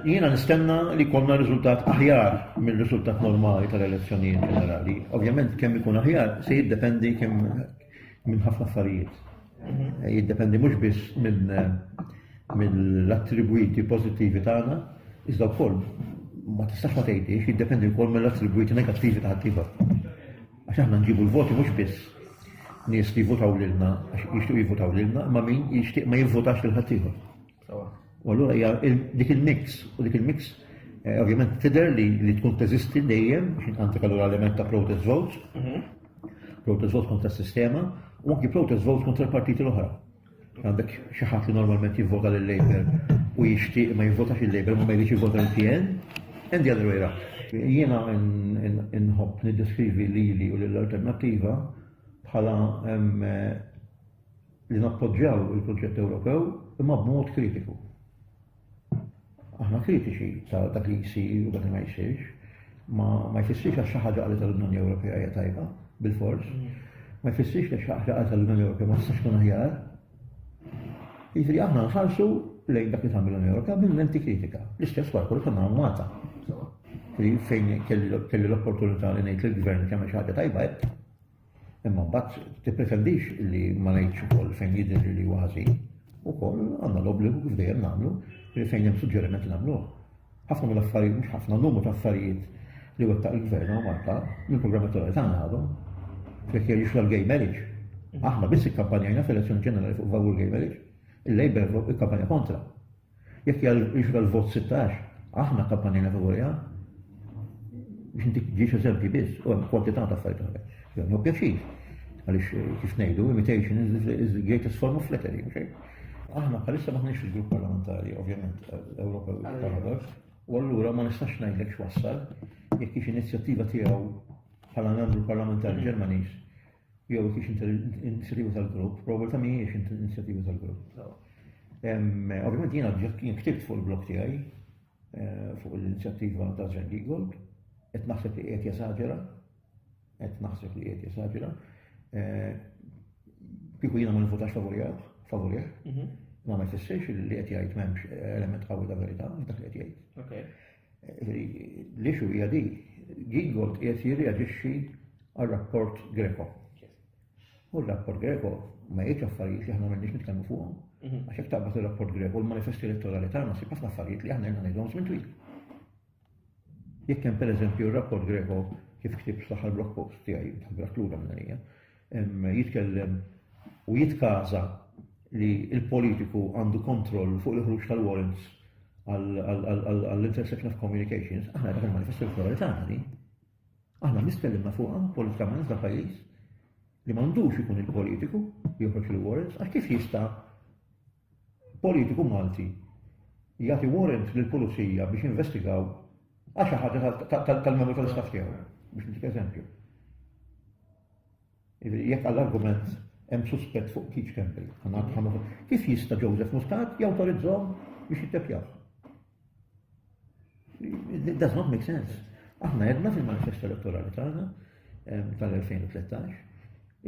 Jiena nistenna li konna riżultat aħjar minn riżultat normali tal-elezzjonijiet ġenerali. Ovvjament kemm ikun aħjar se jiddependi kemm minn ħafna affarijiet. Mhm. Jiddependi mhux biss minn mill-attribwiti pożittivi tagħna, iżda wkoll ma tistax ma tgħidix jiddependi wkoll mill-attribwiti negattivi ta' ħaddieħor. Għax aħna nġibu l-voti mhux biss nies li jivvotaw lilna għax jixtiequ jivvotaw lilna, imma min jixtieq ma jivvotax lil ħaddieħor. U allura hija dik il-mix u dik il-mix eh, ovvjament tidher li li tkun teżisti dejjem biex inqantik allura element ta' protest vote, mhm. protest vote kontra s-sistema u anki protest vote kontra l-partiti l-oħra. Għandek xi ħadd li normalment jivvota lil Labour u jixtieq ma jivvotax il Labour ma ma jridx jivvota l-PN, and the other way around. Jiena nħobb niddeskrivi lili u lill-alternattiva bħala li nappoġġjaw il-proġett Ewropew imma b'mod kritiku. Aħna kritiċi ta' dak li jsir u dak li ma jsirx, ma ma jfissirx għax xi ħaġa qalet l-Unjoni Ewropea hija tajba, bil-fors. Ma jfissirx li xi ħaġa qalet l-Unjoni Ewropea ma tistax tkun aħjar. Jiġri aħna nħarsu lejn dak li tagħmel l-Unjoni Ewropea minn lenti kritika. L-istess wara kollu konna Malta. Fejn kelli l-opportunità li ngħid lill-gvern kemm xi ħaġa tajba Imma mbagħad tippretendix li ma ngħidx ukoll fejn jidher li huwa ħażin, ukoll għandna l-obbligu kif dejjem nagħmlu li fejn hemm suġġeriment nagħmluh. Ħafna mill-affarijiet mhux ħafna numru ta' affarijiet li wettaq il-gvern u Malta minn programm elettorali tagħna għadhom jekk jerġix l-gay marriage. Aħna biss ikkampanjajna fl-elezzjoni ġenerali fuq favur gay marriage, il-Labour ikkampanja kontra. Jekk hija l-ixra l-vot 16, aħna kampanjajna favoriha. Biex intik ġiex eżempji biss, u hemm kwantità ta' affarijiet oħra. Jgħamlu pjaċir. Għaliex eh, kif ngħidu, imitation is the greatest form of flattery, xejn. Aħna bħalissa maħniex fil-grupp parlamentari, ovvjament, Ewropa Paradox, u allura ma nistax ngħidlek x'wassal jekk hix inizjattiva tiegħu bħala membru parlamentari Ġermaniż Jew jekk hix inizjattiva tal-grupp, probabbiltà mhijiex inizjattiva tal-grupp. Ovvjament jiena jien ktibt fuq il-blog tiegħi eh, fuq l-inizjattiva ta' Sven Giegold, qed naħseb li qiegħed jesaġera, qed naħseb li qiegħed jesaġera. Eh, kieku jiena ma nifutax favorija, favorija, mhm. ma ma jfissirx li qed jgħid m'hemmx element qawwi ta' verità f'dak li qed jgħid. L-issue hija di, Gingold qiegħed jirreaġixxi għar-rapport Greco. U r-rapport Greco ma jgħidx affarijiet li aħna m'għandniex nitkellmu fuqhom. Mhm. Għax jekk taqbad ir-rapport Greco l-manifesti elettorali tagħna sib ħafna affarijiet li aħna għandna ngħidhom żmien twil. Jekk hemm pereżempju r-rapport Greco kif ktib fl-aħħar blog post tiegħi dak lura minn jitkellem u jitkaża li l-politiku għandu kontroll fuq il-ħruġ tal-warrants għall-intersection of communications, aħna dak il-manifestu l-kolori tagħna li aħna nistkellimna fuqha politikament dan pajjiż li m'għandux ikun il-politiku li joħroġ il-warrants għax kif jista' politiku Malti jagħti warrant lill-pulizija biex jinvestigaw għal xi ħaġa tal-membru tal-istaff tiegħu, biex ntik eżempju. Jekk għall-argument hemm suspett fuq Keith Campbell, kif jista' Joseph Muscat jawtorizzhom biex jitteppjaw? It does not make sense. Aħna jedna fil-manifest elettorali tagħna tal-2013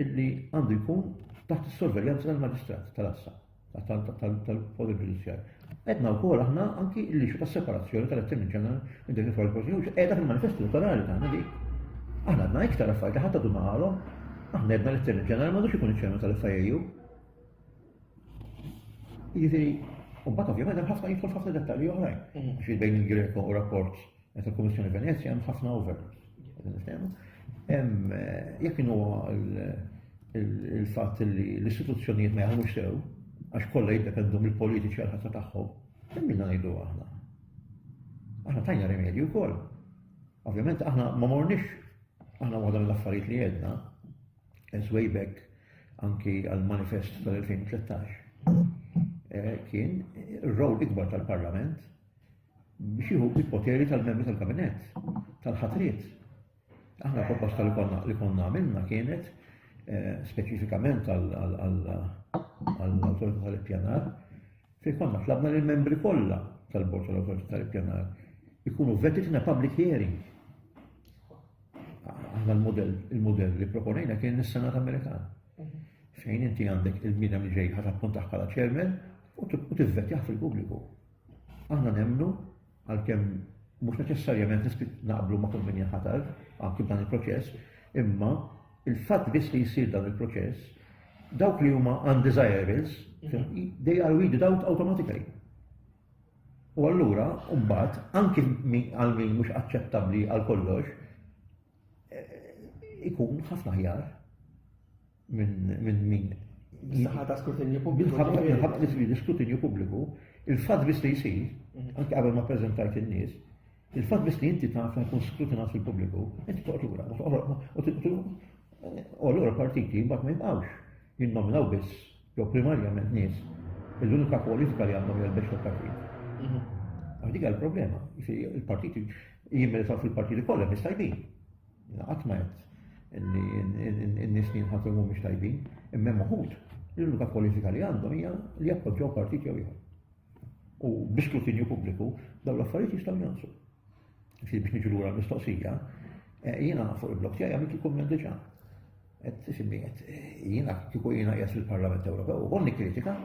illi għandu jkun taħt is-sorveljanza tal-maġistrat tal-assa tal-poter ġudizzjar. Edna u kol aħna anki illi xu tas-separazzjoni tal-attemmin ġeneral minn dik il-forza prosecution qiegħda fil-manifest elettorali tagħna di. Aħna għandna iktar affarijiet ħadd għadu maħalhom. Aħna edna l-attemmin ġeneral m'għandux ikun iċ-ċermen tal-FIU. Jiġifieri, u mbagħad ovvjament hemm ħafna jidħol ħafna dettalji oħrajn. Mhm. Xi bejn il-Greco u rapport meta l-Kummissjoni Venezja hemm ħafna over. Hemm eh, jekk inhu il-fatt li l-istituzzjonijiet ma jagħmlux sew għax kollha jiddependu mill-politiċi għal ħatta tagħhom, hemm minna ngħidu aħna. Aħna tajna rimedju wkoll. Ovvjament aħna ma morniex aħna waħda mill-affarijiet li jedna, as way back anki għal-manifest tal-2013, eh, kien r-rol ikbar tal-Parlament biex jieħu il-poteri tal-membri tal-kabinet, tal-ħatriet. Aħna proposta li konna li konna għamilna kienet eh, speċifikament għall-autorità tal-ippjanar, fej konna tlabna li membri kollha tal-bord tal-autorità tal-ippjanar ikunu vetted in a public hearing. Aħna l-modell, il-modell li proponejna kien is-Senat Amerikan. Mhm. Fejn inti għandek il-mina minn ġej ħat appuntaħ bħala ċermen u tivvetjaħ fil-pubbliku. Aħna nemnu għalkemm mhux neċessarjament naqblu ma' kull min jaħatar anki b'dan il-proċess, imma il-fatt biss li jsir dan il-proċess, dawk li huma undesirables, mhm. they are weeded out automatically. U allura, mbagħad, anki għal min mhux aċċettabbli għal kollox, eh, ikun ħafna ħjar minn min. Minħabba ta' skrutinju pubbliku. Minħabba li sbidi skrutinju pubbliku, il-fatt biss li jsir, mhm. anke qabel ma preżentajt in-nies, il-fatt biss li inti taf li jkun skrutinat fil-pubbliku, inti toqgħod lura, u allura partiti mbagħad ma jibqgħux jinnominaw biss Jew primarjament nies li l-unika politika li għandhom hija l-bexxa tal-ħin. Mhm. Għal dik il-problema, il-partiti jimmeritaw fil-partiti kollha mhix tajbin. Qatt ma qed n-nies li jinħatru mhumiex tajbin, imma moħut l-unika politika li għandhom hija li jappoġġaw partiti jew ieħor. U bi skrutinju pubbliku dawn l-affarijiet jistgħu jansu. Sir biex niġu lura mistoqsija, eh, jiena fuq il-blog tiegħi għamilt il-kumment diġà. Qed isimmi qed eh, jiena kieku jiena qiegħed fil-Parlament Ewropew u nikkritika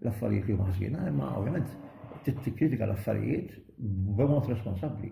l-affarijiet li huma ħżiena, imma ovvjament tikkritika l-affarijiet b'mod responsabbli.